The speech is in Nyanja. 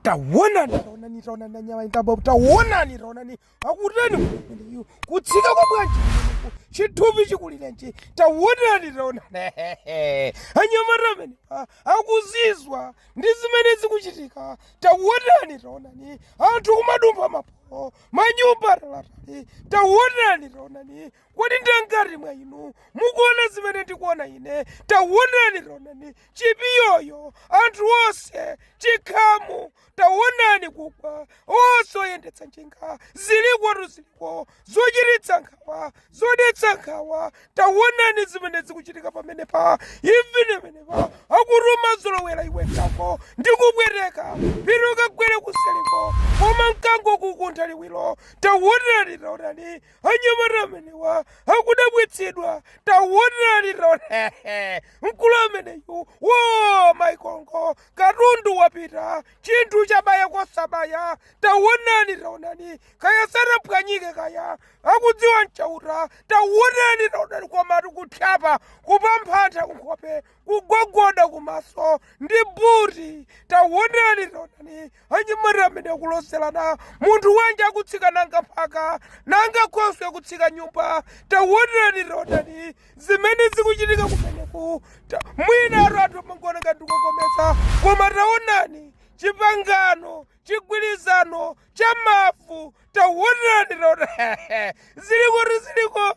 tawonani tawonani tawonani anyamata amenewa tawonani tawonani akutani ameneyo kutsika kwa bwanji kumeneko chithupi chikulirenji tawonani tawonani anyamata amene a- akuzizwa ndi zimene zikuchitika tawonani tawonani anthu kumadumpha maporo manyumba talatali tawonani tawonani Kodi ndi angati mwa inu mukuona zimene ndikuona ine? Taonani, taonani, chipiyoyo, anthu onse, chikhamu, taonani kugwa, osayendetsa njinga, zilikotu ziliko, zochititsa nkhawa, zodetsa nkhawa, taonani zimene zikuchitika pamenepa imvani pamenepa akutuma zolowera iwe nkhwawa ndi kupweteka pino kagwere kusaliko koma mkango kukuntha liwiro taonani taonani anyamata amenewa akudabwitsidwa tawonani tawonani mkulu ameneyu wo maikongo katundu wapita chinthu chabaya kosabaya tawonani tawonani kaya sanaphwanyike kaya akudziwa nChauta tawonani tawonani komatu kuthyapa kupamphantha kunkhope kugogoda kumaso ndi buti tawonani tawonani anyamata amene akulozerana munthu wanji akutsika nanga mphaka nanga khoswe akutsika nyumba tawonerani taonani zimene zikuchitika kumeneku Ta- mwinatu anthu amangowona ndi kuwakometsa koma taonani chipangano chigwirizano cha mavu tawonerani taonani zilikotu ziliko